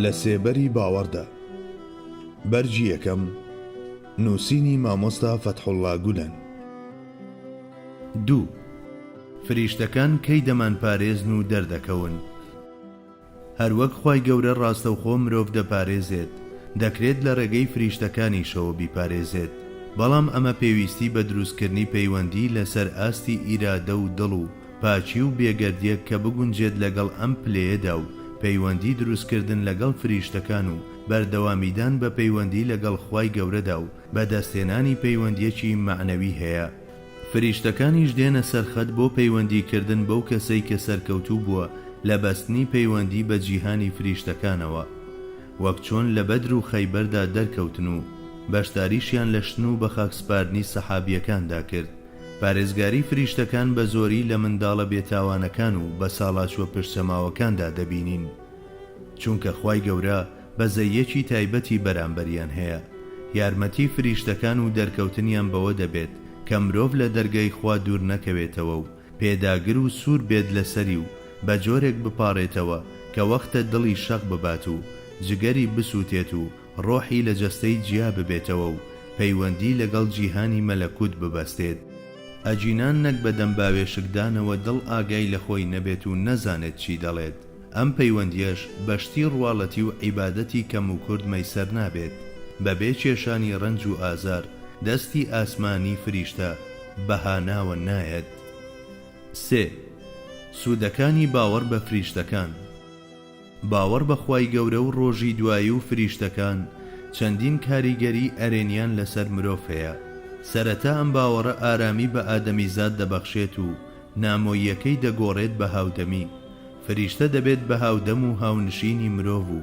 لە سێبەری باوەڕدا، بەرگی یەکەم، نووسینی مامۆستا فەتحوڵڵا گولەن. دوو. فریشتەکان کەی دەمانپارێزن و دەردەکەون؟ هەروەک خوای گەورە ڕاستەوخۆ مرۆڤ دەپارێزێت، دەکرێت لە ڕێگەی فریشتەکانیشەوە بیپارێزێت، بەڵام ئەمە پێویستی بە دروستکردنی پەیوەندی لەسەر ئاستی ئیرادە و دڵ و پاکی و بێگەردیەک کە بگونجێت لەگەڵ ئەم پلەیەدا و پەیوەندی دروستکردن لەگەڵ فریشتەکان و بەردەوامیدان بە پەیوەندی لەگەڵ خوای گەورەدا و بەدەستهێنانی پەیوەندیەکی مەعنەوی هەیە فریشتەکانیش دێنە سەر خەت بۆ پەیوەندی کردن بەو کەسەی کە سەرکەوتوو بووە لە بەستنی پەیوەندی بە جیهانی فریشتەکانەوە وەک چۆن لە بەدر و خەیبەردا دەرکەوتن و بەشداریشیان لە شتن و بەخاکسپاردنی سەحابیەکاندا کرد پارێزگاری فریشتەکان بە زۆری لە منداڵە بێتاوانەکان و بەساڵاچووە پشتچەماوەکاندا دەبینین چونکە خوای گەورە بەزەییەکی تایبەتی بەرامبەریان هەیە، یارمەتی فریشتەکان و دەرکەوتنیان بەوە دەبێت کە مرۆڤ لە دەرگای خوا دوور نەکەوێتەوە و پێداگر و سوور بێت لەسەری و بە جۆرێک بپاڕێتەوە کە وەختە دڵی شەق ببات و جگەری بسووتێت و ڕۆحی لە جەستەی جیا ببێتەوە و پەیوەندی لەگەڵ جیهانی مەلەکوت ببەستێت. ئەگینا نەک بە دەم باوێشکدانەوە دڵ ئاگای لە خۆی نەبێت و نەزانێت چی دەڵێت، ئەم پەیوەندیەش بە شتی ڕواڵەتی و عیبادەتی کەم و کورت مەیسەر نابێت بە بێ کێشانی ڕەنج و ئازار دەستی ئاسمانی فریشتە بە هاناوە نایەت سێ سودەکانی باوەڕ بە فریشتەکان باوەڕ بە خوای گەورە و ڕۆژی دوایی و فریشتەکان چەندین کاریگەری ئەرێنیان لەسەر مرۆڤ هەیە سەرەتا ئەم باوەڕە ئارامی بە ئادەمیزاد دەبەخشێت و نامۆییەکەی دەگۆڕێت بە هاودەمی، فریشتە دەبێت بە هاودەم و هاونشینی مرۆڤ و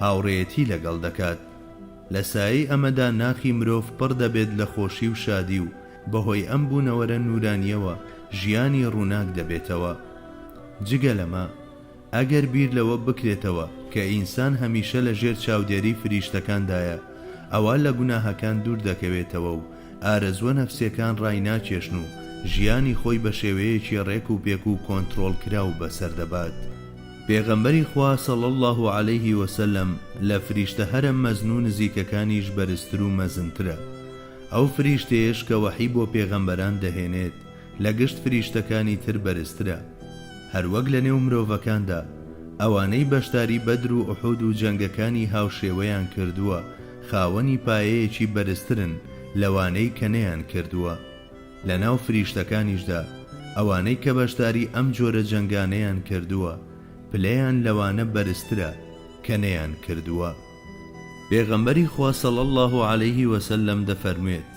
هاوڕێیەتی لەگەڵ دەکات. لە سایەی ئەمەدا ناخی مرۆڤ پڕ دەبێت لە خۆشی و شادی و بەهۆی ئەم بوونەوەرە نوورانییەوە ژیانی ڕووناک دەبێتەوە. جگە لەمە، ئەگەر بیر لەوە بکرێتەوە کە ئینسان هەمیشە لە ژێر چاودێری فریشتەکاندایە، ئەوا لە گوناهەکان دوور دەکەوێتەوە و ئارەزووە نەفسیەکان ڕایناکێشن و ژیانی خۆی بە شێوەیەکی ڕێک و پێک و کۆنتڕۆڵ کراو بەسەر دەبات. پێغەمبەری خوا صلی اللە علیه و سلم لە فریشتە هەرە مەزن و نزیکەکانیش بەرزتر و مەزنترە. ئەو فریشتەیەش کە وەحی بۆ پێغەمبەران دەهێنێت، لە گشت فریشتەکانی تر بەرزترە، هەروەک لە نێو مرۆڤەکاندا، ئەوانەی بەشداری بەدر و ئوحود و جەنگەکانی هاوشێوەیان کردووە خاوەنی پایەیەکی بەرزترن لەوانەی کە نەیانکردووە، لە ناو فریشتەکانیشدا ئەوانەی کە بەشداری ئەم جۆرە جەنگانەیان کردووە پلەیان لەوانە بەرزترە کە نەیانکردووە. پێغەمبەری خوا صلی اللە علیه وسلم دەفەرموێت،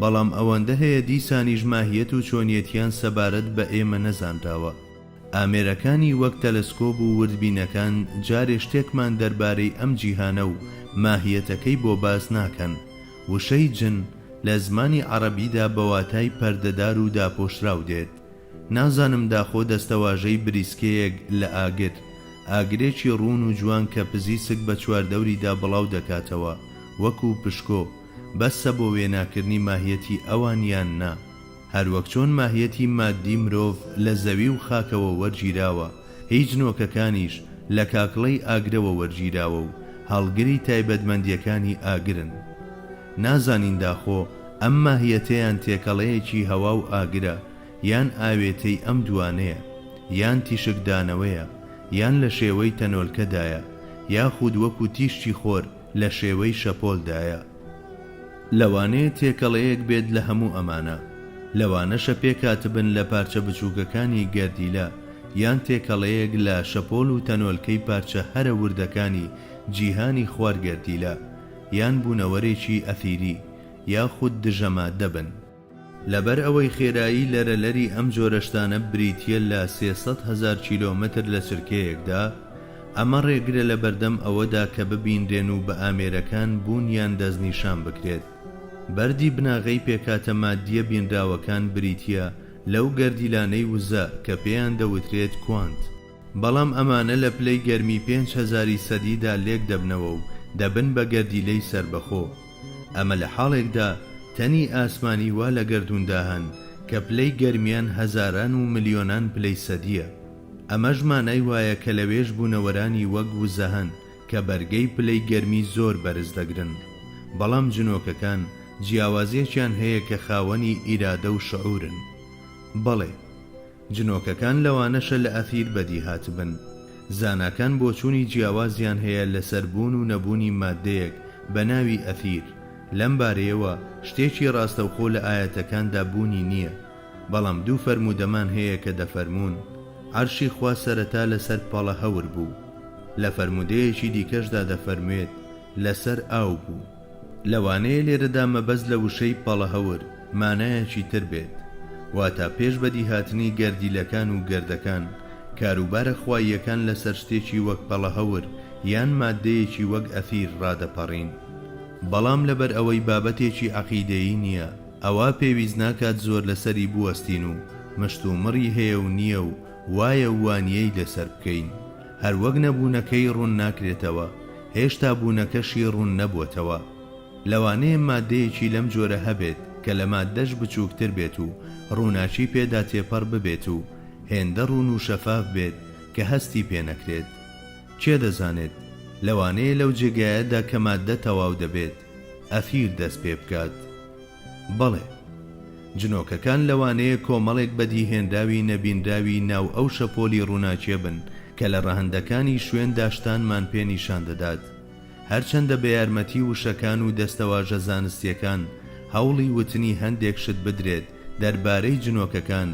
بەڵام ئەوەندە هەیە دیسانیش ماهیەت و چۆنیەتیان سەبارەت بە ئێمە نەزانراوە. ئامێرەکانی وەک تەلەسکۆب و وردبینەکان جارێ شتێکمان دەربارەی ئەم جیهانە و ماهیەتەکەی بۆ باس ناکەن. وشەی جن لە زمانی عەڕەبیدا بە واتای پەردەدار و داپۆشراو دێت. نازانم داخۆ دەستەواژەی بریسکەیەک لە ئاگر، ئاگرێکی ڕوون و جوان کە پزیسک بە چواردەوریدا بڵاو دەکاتەوە وەکوو پشکۆ، بەسە بۆ وێناکردنی ماهیەتی ئەوان یان نا؟ هەروەک چۆن ماهیەتی ماددی مرۆڤ لە زەوی و خاکەوە وەرگیراوە، هیچ نۆکەکانیش لە کاکڵەی ئاگرەوە وەرگیراوە و هەڵگری تایبەتمەندیەکانی ئاگرن. نازانین داخۆ ئەم ماهیەتەیان تێکەڵەیەکی هەوا و ئاگرە یان ئاوێتەی ئەم دووانەیە یان تیشکدانەوەیە یان لە شێوەی تەنۆلکەدایە یاخود وەکو تیشکی خۆر لە شێوەی شەپۆل دایە. لەوانەیە تێکەڵەیەک بێت لە هەموو ئەمانە، لەوانەشە پێکهاتبن لە پارچە بچووکەکانی گەردیلە یان تێکەڵەیەک لە شەپۆل و تەنۆلکەی پارچە هەرە وردەکانی جیهانی خوار گەردیلە، یان بوونەوەرێکی ئەثیری یاخود دژە ماددە بن. لەبەر ئەوەی خێرایی لەرەلەری ئەم جۆرە شتانە بریتییە لە سێ سەد هەزار کیلۆمەتر لە چرکەیەکدا، ئەمە ڕێگرە لە بەردەم ئەوەدا کە ببینرێن و بە ئامێرەکان بوونیان دەستنیشان بکرێت. بەردی بناغەی پێکهاتە ماددییە بینراوەکان بریتییە لەو گەردیلانەی وزە کە پێیان دەوترێت کوانت. بەڵام ئەمانە لە پلەی گەرمی پێنج هەزاری سەدیدا لێک دەبنەوە و دەبن بە گەردیلەی سەربەخۆ. ئەمە لە حاڵێکدا تەنی ئاسمانی وا لە گەردووندا هەن کە پلەی گەرمیان هەزاران و ملیۆنان پلەی سەدییە. ئەمەش مانای وایە کە لەوێش بوونەوەرانی وەک وزە هەن کە بەرگەی پلەی گەرمی زۆر بەرز دەگرن. بەڵام جنۆکەکان جیاوازیەکیان هەیە کە خاوەنی ئیرادە و شعورن. بەڵێ. جنۆکەکان لەوانەشە لە ئەفیر بەدی هاتبن. زاناکان بۆچوونی جیاوازیان هەیە لەسەر بوون و نەبوونی ماددەیەک بە ناوی ئەفیر، لەم بارەیەوە شتێکی ڕاستەوخۆ لە ئایەتەکاندا بوونی نییە، بەڵام دوو فەرموودەمان هەیە کە دەفەرموون، عەرشی خوا سەرەتا لەسەر پەڵە هەور بوو. لە فەرموودەیەکی دیکەشدا دەفەرموێت، لەسەر ئاو بوو. لەوانەیە لێرەدا مەبەست لە وشەی، پەڵەهەور، مانایەکی تر بێت، واتا پێش بەدیهاتنی گەردیلەکان و گەردەکان، کاروبارە خواییەکان لەسەر شتێکی وەک پەڵەهەور یان ماددەیەکی وەک ئەثیر ڕادەپەڕین. بەڵام لەبەر ئەوەی بابەتێکی عەقیدەیی نییە، ئەوا پێویست ناکات زۆر لەسەری بوەستین و مشتومڕی هەیە و نییە و وایە و وانییەی لەسەر بکەین. هەر وەک نەبوونەکەی ڕوون ناکرێتەوە، هێشتا بوونەکەشی ڕوون نەبووەتەوە. لەوانەیە ماددەیەکی لەم جۆرە هەبێت کە لە ماددەش بچووکتر بێت و ڕووناکی پێدا تێپەڕ ببێت و هێندە ڕوون و شەفاف بێت کە هەستی پێ نەکرێت. کێ دەزانێت؟ لەوانەیە لەو جێگایەدا کە ماددە تەواو دەبێت، ئەثیر دەست پێ بکات. بەڵێ. جنۆکەکان لەوانەیە کۆمەڵێک بەدیهێنراوی نەبینراوی ناو ئەو شەپۆلی ڕووناکییە بن کە لە ڕەهەندەکانی شوێن داشتانمان پێ نیشان دەدات، هەرچەندە بە یارمەتی وشەکان و دەستەواژە زانستییەکان هەوڵی وتنی هەندێک شت بدرێت دەربارەی جنۆکەکان،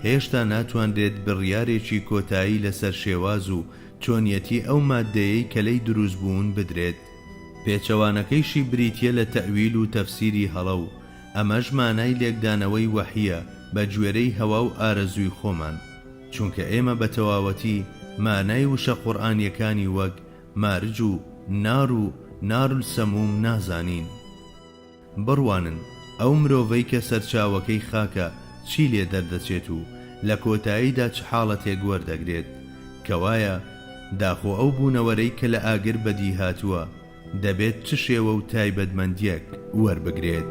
هێشتا ناتوانرێت بڕیارێکی کۆتایی لەسەر شێواز و چۆنیەتی ئەو ماددەیەی کە لێی دروست بوون بدرێت. پێچەوانەکەیشی بریتیە لە تەئویل و تەفسیری هەڵە و ئەمەش مانای لێکدانەوەی وەحیە بە گوێرەی هەوا و ئارەزووی خۆمان چونکە ئێمە بە تەواوەتی مانای وشە قورئانیەکانی وەک مارج و نار و نار السموم نازانین. بڕوانن ئەو مرۆڤەی کە سەرچاوەکەی خاکە چی لێ دەردەچێت و لە کۆتاییدا چ حاڵەتێک وەردەگرێت، کەوایە داخۆ ئەو بوونەوەرەی کە لە ئاگر بەدی هاتووە دەبێت چ شێوە و تایبەتمەندییەک وەربگرێت؟